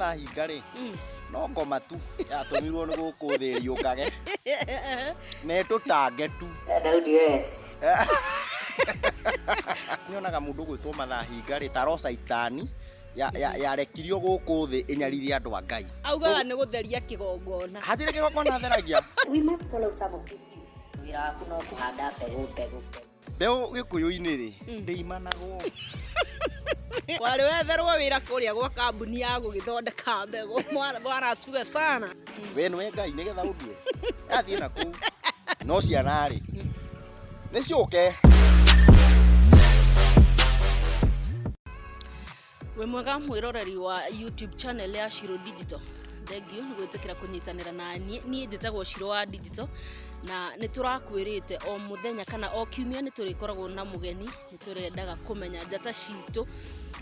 mathahinga rĩ mm. no ngoma tu yatũmirwo nĩ gũkũ thĩ yũkage na ĩtũtange tu daudi we nyonaga mũndũ gwĩtwo mathahinga rĩ taroca itani ya- ya- yarekirio gũkũ thĩ ĩnyarire andũ a ngai augaga nĩ gũtheria kĩgongona hatirĩ kĩgongona theragia We must call out some of these things. Wĩra waku no kũhanda mbegũ mbegũ. mbeũ gĩkũyũ-inĩ rĩ ndĩimanagwo warĩ wetherwo wĩra kũrĩa gwa kambuni ya gũgĩthondeka mbegũ Mwana- mwana suga sana we nĩwe ngai nĩgetha ũndue athiĩ na kũu no ciana rĩ nĩ ciũke wĩ mwega mwĩroreri wa youtube channel ya shiro digital thengiũ nĩ gwĩtĩkĩra kũnyitanĩra na niĩ niĩ njĩtagwo shiro wa digital na nĩ tũrakwĩrĩte o mũthenya kana o kiumia nĩ tũrĩkoragwo na mũgeni nĩ tũrendaga kũmenya njata citũ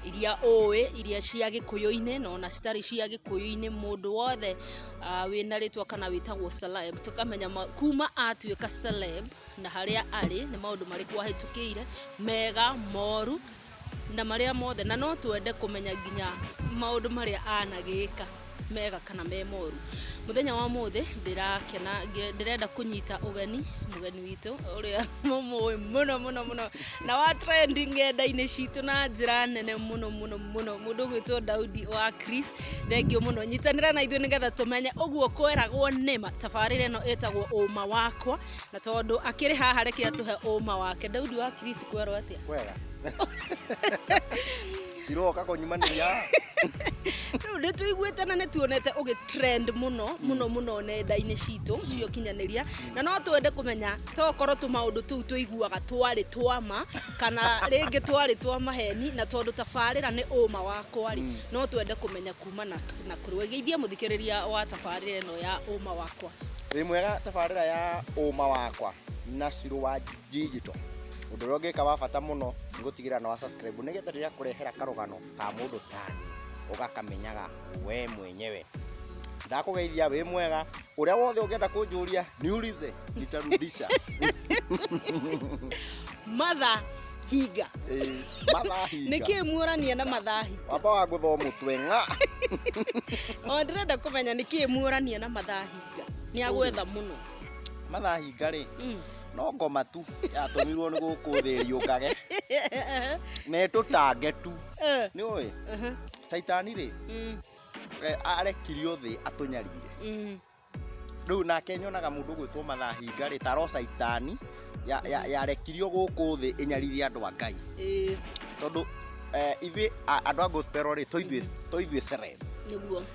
iria ũĩ iria cia gĩkũyũ-inĩ na ona citarĩ cia gĩkũyũ-inĩ mũndũ wothe uh, wĩna rĩtwa kana wĩtagwo celeb tũkamenya ma- kuma atuĩka celeb na harĩa arĩ nĩ maũndũ marĩkũ ahĩtũkĩire mega moru na marĩa mothe na no twende kũmenya nginya maũndũ marĩa anagĩka mega kana me moru mũthenya wa mũthĩ ndĩrakena ngĩ- ndĩrenda kũnyita ũgeni mũgeni witũ ũrĩa mũmũĩ mũno mũno mũno na wa trend ngenda-inĩ citũ na njĩra nene mũno mũno mũno mũndũ gwĩtwo Daudi wa Chris thengiũ mũno nyitanĩra na ithuĩ nĩgetha tũmenye ũguo kweragwo nĩma tabarĩra ĩno ĩtagwo ũma wakwa na tondũ akĩrĩ haha reke atũhe ũma wake Daudi wa Chris kwerwo atĩa kwega ciroka kũnyumanĩria rĩu nĩ tũiguĩte na nĩ tuonete ũgĩ trend mũno mũno mũno nenda-inĩ citũ cio kinyanĩria na no twende kũmenya tokorwo tũ maũndũ tũu tũiguaga twarĩ twama kana rĩngĩ twarĩ twa maheni na tondũ tabarĩra nĩ ũma wakwa rĩ no twende kũmenya kuma na na kũrĩ geithia mũthikĩrĩria wa tabarĩra ĩno ya ũma wakwa wĩ mwega tabarĩra ya ũma wakwa na cirũ wanjigi Digital. Ũndũ ũrĩa ũngĩka wa bata mũno nĩ gũtigĩrĩra nĩ wa subscribe nĩgetha rĩrĩa kũrehera karũgano ka mũndũ tani ũgakamenyaga we mwenyewe. Ndakũgeithia wĩ mwega, ũrĩa wothe ũngĩenda kũnjũria niulize nitarudisha. matha hinga Ĩĩ, mathahinga. nä kä muorania na mathahi Wamba wa gũthoo mũtwe ng'a. o ndä renda kå menya nä kä muorania na mathahinga nä agwetha må no Mathahinga rĩ, no ngoma tu yatũmirwo nĩ gũkũ thĩ ĩriũngage na ĩtũtange tu Eh, nĩ ũĩ mhm, caitani rĩ mm, eh, arekirio thĩ atũnyarire mm. rĩu nake nyonaga mũndũ gwĩtwo mathahinga rĩ taro caitani ya- ya- yarekirio gũkũ thĩ ĩnyaririe andũ a ngai Eh, tondũ eh, ithuĩ a- andũ a gospel rĩ tũithuĩ tũithuĩ serem nĩguo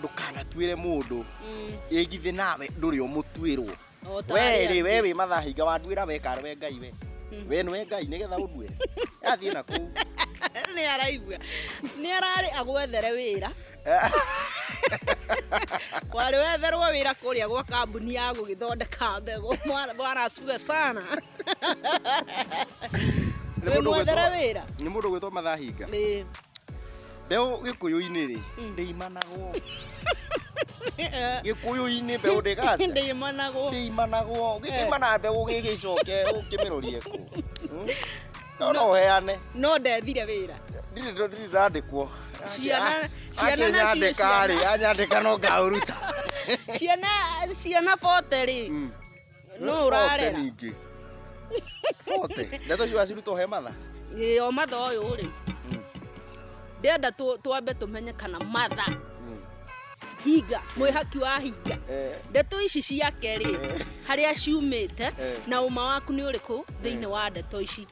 ndũkanatuĩre mũndũ ĩgithĩ nawe ndũrĩ ũmũtuĩrwo O ta arĩa we rĩ angĩ. we wĩ mathahinga wanduĩra we kara we ngai we we nĩwe ngai nĩgetha ũndue athiĩ na kũu nä araigua nä ararä agwethere wä ra warä wetherwo wä ra kå rä a gwa kambuni ya gå gä thondeka mbegå mwaracue sana Nĩ wä mũndũ mwethere gwĩtwo- wä ra nĩ mũndå gwĩtwo mathahinga Mbeũ gĩkũyũ-inĩ-rĩ, Mm. ndĩimanagwo. Gĩkũyũ-inĩ mbeũ ndĩgathe. ndĩimanagwo Ndĩimanagwo. Eh. Gĩkĩimana mbeũ gĩgĩcoke ũkĩmĩrorie kũ. Hmm? No no ũheane. no ndethire wĩra Ndirĩ ndo- ndirĩ ndandĩkwo. Ciana- ciana nacio Anyandĩka-rĩ, ciana. anyandĩka no ngaũruta. ciana ciana bote rĩ Mm. Nũ ũrarera? ningĩ bote ndeto ciwa cirutwo he matha Ĩĩ, o matha ũyũ rĩ ndenda tũ- twambe tũmenye kana matha hinga mwĩhaki wa hinga Eh. ndeto ici ciake rĩ harĩa ciumĩte Eh. na ũma waku nĩ ũrĩkũ thĩinĩ wa ndeto ici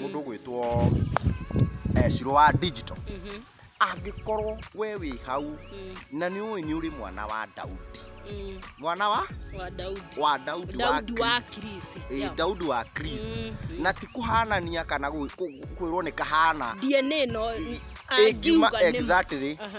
mũndũ ũgwĩtwo eh, ciro wa digital angĩkorwo we wĩ hau na nĩ ũĩ nĩ ũrĩ mwana wa daudi Mm, mwana wa wa Daudi. wa daudi Daudi wa Chris. Chris, Ĩ, yeah. daudi wa chris na ti kũhanania kana gwĩ- kũ- kwĩrwo nĩ kahana DNA no ĩngiuma angiuga nĩ exactly Aha.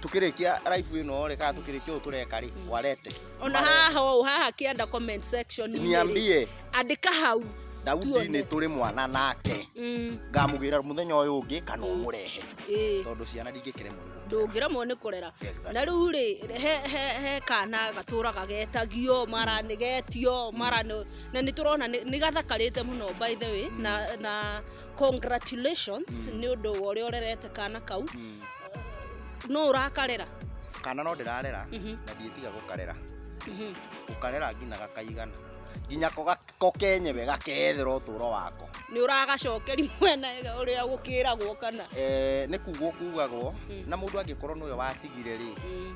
tukirikia live ino rä kana tukirikia å tå reka rä warete ona haha ũũ haha kĩanda comment section Niambie. andĩka hau daudi Tuone. nä tå rä mwana nake Mm, ngamå gä ra må thenya å yå å ngä kana å må rehe ĩĩ. tondå ciana ndingä kä remwo nä ndũngĩremwo nĩ kũrera Exactly. na rĩu rĩ he, he, he kana gatũraga getagio mara nĩ getio mara nĩ- na nĩ tũrona nĩ nĩ gathakarĩte mũno by the way na, na congratulations nä å ndå wa å rä a å rerete kana kau no å rakarera kana no ndĩrarera na ndiĩtiga gũkarera gũkarera nginya gakaigana nginya ko ga- ko kenyewe gakethera ũtũũro wako nä å ragacokeri mwena å rä a gå kä ragwo kana Eh, nĩ kugwo kugagwo na mũndũ angĩkorwo nĩwe watigire rĩ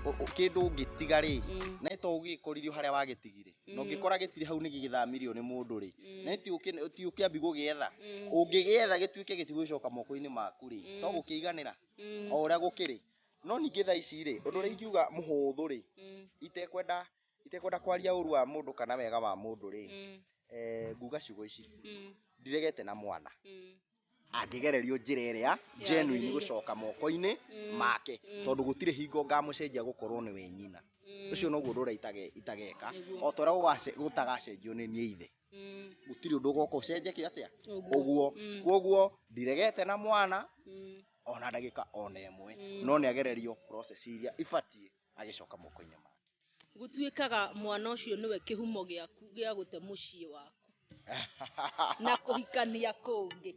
ũ- ũ- kĩndũ ũngĩtiga rĩ na to ũgĩkoririo harĩa wagĩtigire na Mm. ũngĩkora gĩtirĩ hau nĩ gĩgĩthamirio nĩ mũndũ rĩ Mm. na ti ũkĩ- ti ũkĩambi gũgĩetha Mm. ũngĩgĩetha gĩtuĩke gĩtigũgĩcoka moko-inĩ maku rĩ Mm. to gũkĩiganĩra Mm. o ũrĩa gũkĩrĩ no ningĩ thaa ici rĩ ũndũ ũrĩa ingiuga mũhũthũ rĩ Mm. itekwenda itekwenda kwaria ũru wa mũndũ kana wega wa mũndũ rĩ Mm. eh, nguga ciugo ici Mm. ndiregete na mwana Mm. angĩgererio njĩra ĩrĩa njenuini Yagĩrĩire. gũcoka moko-inĩ Mm, make mm. tondũ gũtirĩ hingo ngamũcenjia gũkorwo nĩwe nyina Mm, ũcio noguo ndũra itageka Nĩguo. o torĩa gũgace- gũtagacenjio nĩ niĩ ithe mm, gũtirĩ ũndũ ũgoka ũcenjekie atĩa ũguo. ũguo Mm, kwoguo ndiregete na mwana mm, ona ndagĩka ona ĩmwe Mm. no nĩ agererio process iria ibatiĩ agĩcoka moko-inĩ make Gũtuĩkaga mwana ũcio nĩwe kĩhumo gĩaku gĩa gũte mũciĩ waku na kũhikania kũngĩ.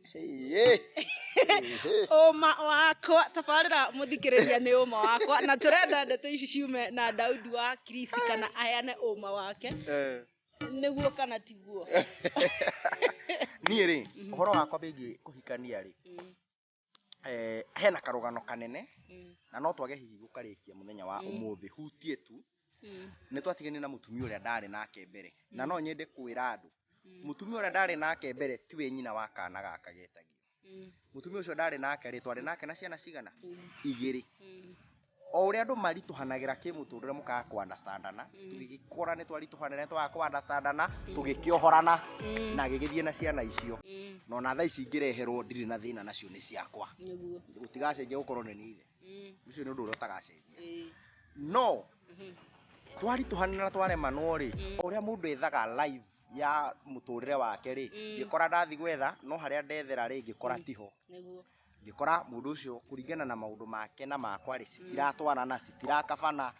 Ũma wakwa, tabarĩra mũthikĩrĩria nĩ ũma wakwa, na tũrenda ndeto ici ciume na Daudi wa Kirisi kana aheane ũma wake, eh. nĩguo kana tiguo. Niĩ rĩ, mhm. ũhoro wakwa bĩgiĩ kũhikania rĩ, mm. eh, hena karũgano kanene Mm. na no twage hihi gũkarĩkia mũthenya wa Mm. ũmũthĩ hutie tu Mm. nĩ twatigane na mũtumia ũrĩa ndarĩ nake mbere na no nyende kwĩra andũ Mm. mũtumia ũrĩa ndarĩ nake mbere tiwe nyina wa kana gaka getagio Mm. mũtumia ũcio ndarĩ nake rĩ twarĩ nake na ciana cigana Mm. igĩrĩ Mm. o ũrĩa andũ maritũhanagĩra kĩmũtũrĩre mũkaga kũ understandana tũgĩgĩkũra nĩ twaritũhanĩra nĩ twaga kũ understandana tũgĩkĩohorana Mm. na gĩgĩthiĩ na ciana icio Mm, na ona thaa ici ingĩreherwo ndirĩ na thĩna nacio nĩ ciakwa nĩguo. gũtigacenjia gũkorwo nĩ niithe Mm, ũcio nĩ ũndũ ũrĩa ũtagacenjia eh, no mhm, twaritũhanĩra na twaremanwo rĩ Mm. o ũrĩa mũndũ ethaga live ya mũtũrĩre wake rĩ Mm. ngĩkora ndathi gwetha no harĩa ndethera rĩ ngĩkora tiho nĩguo. ngĩkora mũndũ ũcio kũringana na maũndũ make na makwa rĩ citiratwarana citirakabana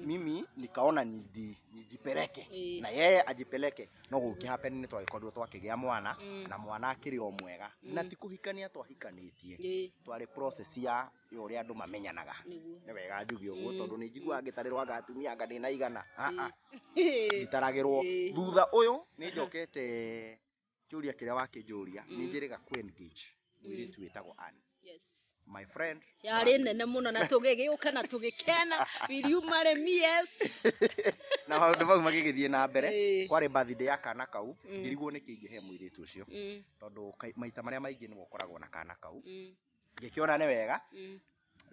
mimi nikaona niji- nijipeleke Eh. na yeye ajipeleke no gũkĩ happen nĩ twagĩkorirwo twakĩgĩa mwana Mm. na mwana akĩrĩ o mwega na Mm. ti kũhikania twahikanĩtie Ĩ, twarĩ process ya ya ũrĩa andũ mamenyanaga nĩguo. nĩ wega njuge ũguo Mm. tondũ nĩ njiguaga ngĩtarĩrwo anga atumia anga ndĩna igana Ah, ah, Ĩ. ngitaragĩrwo Ĩ. thutha ũyũ nĩ njokete kĩũria kĩrĩa wakĩnjũria nĩ njĩrĩga ku engage mũirĩtu wĩtagwo Ann yes my friend yarĩ nene mũno na tũgĩgĩũka na tũgĩkena will you marry me yes na maũndũ mau magĩgĩthiĩ na mbere Ĩĩ. kwarĩ birthday ya kana kau Mm. ngĩrigwo nĩkĩ ingĩhe mũirĩtu ũcio Mm, tondũ kai- maita marĩa maingĩ nĩwe ũkoragwo na kana kau mm, ngĩkĩona nĩ wega mm,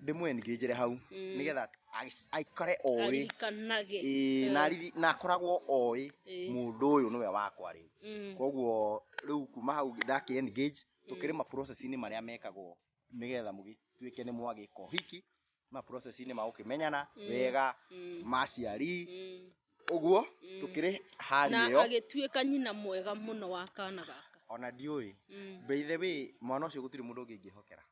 ndĩmwengĩnjĩre hau Mm. nĩgetha agĩc- aikare oĩ aririkanage Ĩĩ, na ariri- na akoragwo oĩ Ĩĩ. mũndũ ũyũ nĩwe wakwa rĩu Mm. koguo rĩu kuma hau ndaki engage tũkĩrĩ ma process-inĩ marĩa mekagwo nĩgetha mũgĩtuĩke nĩ mwagĩka ũhiki ma process-inĩ ma gũkĩmenyana Mm. wega Mm. maciari Mm. ũguo Mm. tũkĩrĩ hali na ĩyo agĩtuĩka nyina mwega mũno wa kana gaka ona ndiũĩ Mm. by the way mwana ũcio gũtirĩ mũndũ ũngĩ ingĩhokera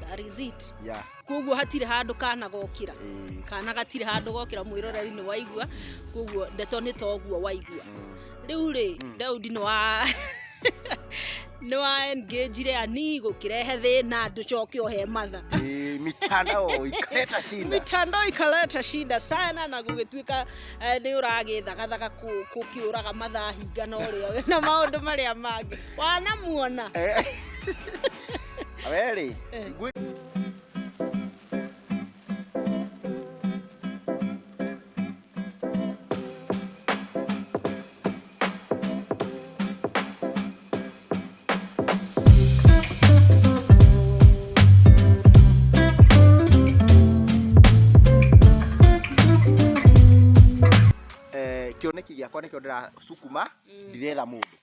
That is it. yeah. koguo hatirĩ handũ kana gokĩra Eh. kana gatirĩ handũ gokĩra mwĩroreri nĩ waigua koguo ndeto nĩ toguo waigua rĩu rĩ daudi nĩ wa nĩ wa engagire ani gũkĩrehe thĩna ndũcoke ohe matha Eh, mitandao ikaleta shida mitandao ikaleta shida sana na gũgĩtuĩka eh, nĩ ũragĩthagathaga kũ- kũkĩũraga mathaa hinga na ũrĩa na maũndũ marĩa mangĩ wanamuona Eh. A ver, Eli. Eh. kĩoneki gĩakwa nĩkĩo ndĩracukuma mm. ndiretha mũndũ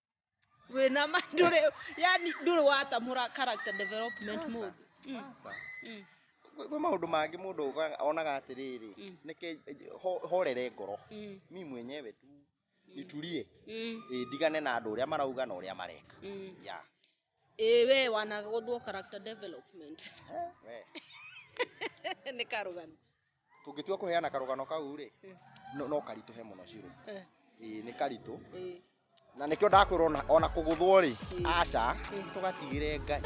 wĩna ma ndũrĩ yani ndũrĩ watamũra character development mũndũ Mm, Aca. mm, Kwĩ kwĩ maũndũ mangĩ mũndũ oga- onaga atĩrĩrĩ Mm. nĩke ho- horere ngoro mm, mi mwenyewe tu niturie mm, ĩ ndigane na andũ ũrĩa marauga na ũrĩa mareka mm. ya Ĩĩ we wanagũthwo character development. Eh, we. Nĩ karũgano. Tũngĩtua kũheana karũgano kau rĩ, no no karitũhe mũno ciro. Eh, Ĩĩ nĩ karitũ. eh. Na nĩkĩo ndakwĩra ona ona kũgũthwo rĩ, aca, tũgatigĩre Ngai.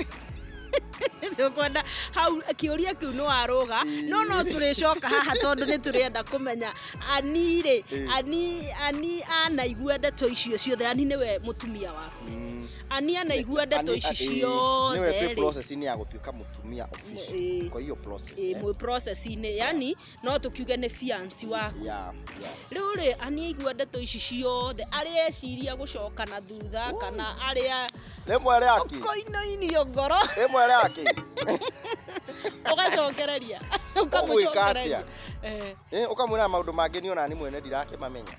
tũkwenda hau kĩũria kĩu nĩ warũga no no tũrĩcoka haha tondũ nĩ tũrenda kũmenya ani rĩ ani ani anaigua ndeto icio ciothe ani nĩwe mũtumia waku Ania na igua ndeto ici ciothe niwe twĩ rĩ. process inĩ ya gũtuĩka mũtumia official Ĩĩ. kwa hiyo process Ĩ, eh. mwĩ process-inĩ yani no tũkiuge nĩ fiansi waku yeah yeah rĩu rĩ ania igua ndeto ici ciothe arĩa eciria gũcoka na thutha kana arĩa rĩmwe rĩaki koinoinio ngoro rĩmwe rĩaki ũgacokereria Ũgwĩka atĩa? ũkamũcokereria Eh, Eh, ũkamwĩra maũndũ mangĩ niĩ ona niĩ mwene ndirakĩmamenya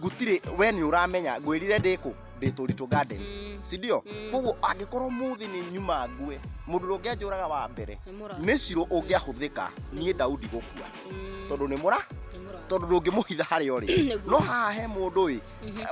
gutire we ni uramenya ngwirire ndiku ndi turitu garden si ndio koguo angikorwo muthi ni nyuma ngue mundu ro ngianjuraga wa mbere Nĩ mũrathi. ni ciro ungiahuthika nie daudi gukua tondu ni mura tondu ndungimuhitha haria uri Nĩguo. no haha he mundu ri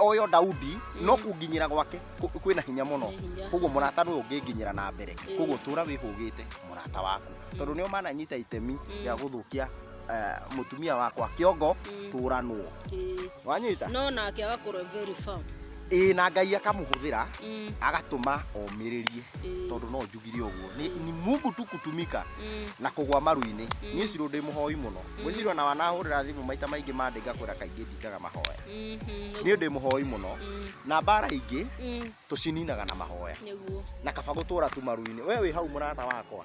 oyo daudi no kunginyira gwake ku- kwina hinya muno Nĩ hinya. koguo murata ndu unginginyira na mbere koguo tura wihugite murata waku tondu ni umananyita itemi ya guthukia eh, mũtumia wakwa kĩongo tũranwo Ĩĩ. wanyita no nake agakorwo very firm ĩĩ na ngai akamũhũthĩra Mm, agatũma omĩrĩrie Ĩĩ. tondũ no njugire ũguo ni, ni mungu tu kutumika mm, na kũgwa maru-inĩ niĩ cirũ ndĩ mũhoi mũno gwĩcirwo na wanahũrĩra thimũ maita maingĩ mandĩ ngakwĩra kaingĩ ndingaga mahoya mhm, niĩ ndĩ mũhoi mũno mm, na mbara ingĩ mm, tũcininaga na mahoya nĩguo na kaba gũtũra tu maru-inĩ we wĩ hau mũrata wakwa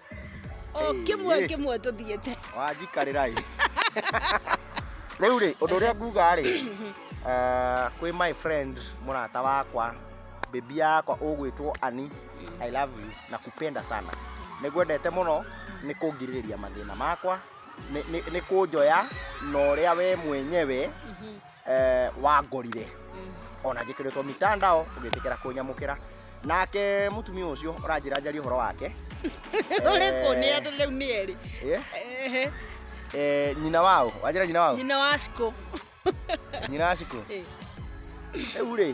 o kimwe kimwe tuthiete wanjikarĩra ĩ rĩu rĩ ũndũ ũrĩa nguga rĩ eh, kwĩ my friend mũrata wakwa bebi yakwa ũgwĩtwo ani i love you na kupenda sana nĩngwendete mũno nĩ kũngirĩrĩria mathĩna makwa nĩ- nĩ nĩ kũnjoya na ũrĩa we mwenyewe eh, wangorire ona njĩkĩrĩtwo mitandao ũgĩtĩkĩra kũnyamũkĩra nake mũtumia ũcio ũranjĩra njarie ũhoro wake ũrĩkũ nĩ atĩ rĩu nĩ erĩ Eh, Ehe, eh, nyina wao wanjĩra nyina wao nyina wa cikũ nyina wa cikũ Eh. rĩu rĩ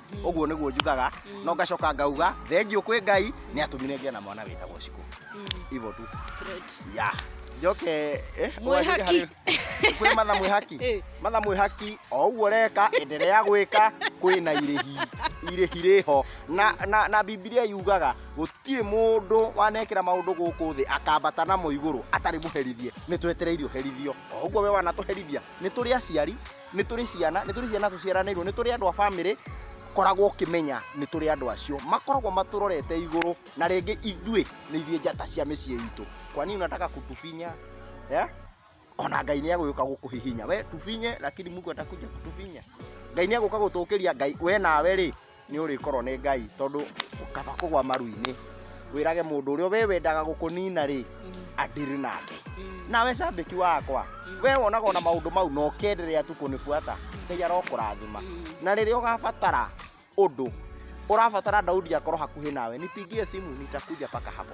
ũguo nĩguo njugaga no ngacoka ngauga thengiũ kwĩ ngai nĩ atũmire ngĩa na mwana wĩtagwo cikũ ivo tu Great. ya njoke eh, Mwĩhaki. ũgacĩre harĩ- kwĩ matha mwĩhaki Eh. matha mwĩhaki o ũguo reka enderea gwĩka kwĩ na irĩhi irĩhi rĩho na, na, na bibilia yugaga gũtirĩ mũndũ wanekĩra maũndũ gũkũ thĩ akambata namo igũrũ atarĩ mũherithie nĩ twetereire ũherithio o ũguo we wanatũherithia nĩ tũrĩ aciari nĩ tũrĩ ciana nĩ tũrĩ ciana tũciaranĩirwo nĩ tũrĩ andũ a bamĩrĩ koragwo ũkĩmenya nĩ tũrĩ andũ acio makoragwo matũrorete igũrũ na rĩngĩ ithuĩ nĩ ithuĩ njata cia mĩciĩ itũ kwa nini unataka kutufinya yeah? ona ngai nä agåka gå kå hihinya we tufinye lakini mungu atakuja kutufinya ngai nä agåka gå tå kä ria ngai we nawe rä nĩ ũrĩkorwo nĩ ngai tondũ kaba kũgwa maru-inĩ wĩrage mũndũ ũrĩa we wendaga gũkũnina rĩ andirĩ nake nawe cambĩki wakwa we wonaga ona maũndũ mau na ũkenderea tu kũnibuata ngai arokũrathima na rĩrĩa ũgabatara ũndũ ũrabatara daudi akorwo hakuhĩ nawe nipigie simu nitakuja paka hapo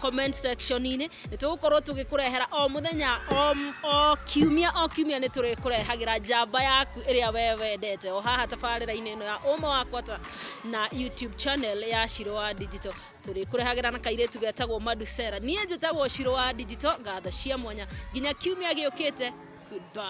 comment section inĩ nĩ tũgũkorwo tũgĩkũrehera o mũthenya o, o kiumia o kiumia nĩ tũrĩkũrehagĩra njamba yaku ĩrĩa we wendete o haha tabarĩra-inĩ ĩno ya ũma wakwa ta na youtube channel ya Shiro wa Digital tũrĩkũrehagĩra na kairĩtu getagwo Madusera niĩ njĩtagwo Shiro wa Digital ngatho cia mwanya nginya kiumia gĩũkĩte goodbye